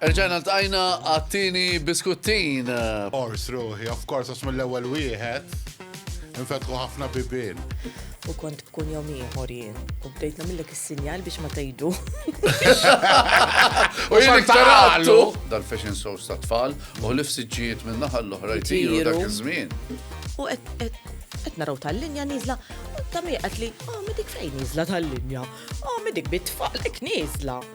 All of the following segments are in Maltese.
Erġajna l-tajna għattini biskuttin. Ors ruħi, of course, għax mill-ewel wieħed. Infetħu ħafna bibin. U kont Tkun jom ieħor jien. U bdejt nagħmillek is-sinjal biex ma tgħidu. U jien iktarallu. Dal-fashion shows ta' tfal u ħlif siġġijiet minn naħa l-oħra jtiru dak iż-żmien. U qed naraw tal-linja niżla, ta' miqat li, oh, midik fejn niżla tal-linja, oh, midik bit-tfal, ek niżla.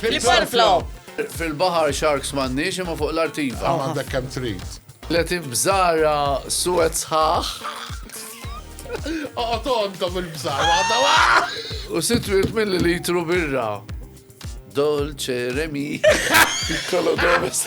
Flip flop! Fil-bahar sharks m'għandniex imma fuq l-artiva. Għaw għandek kem trid. Letif bżara suwet sħaħ. Oqgħod għandhom il-bżara għadha U sitt wirt mill litru birra. Dolce Remi. Piccolo Domes.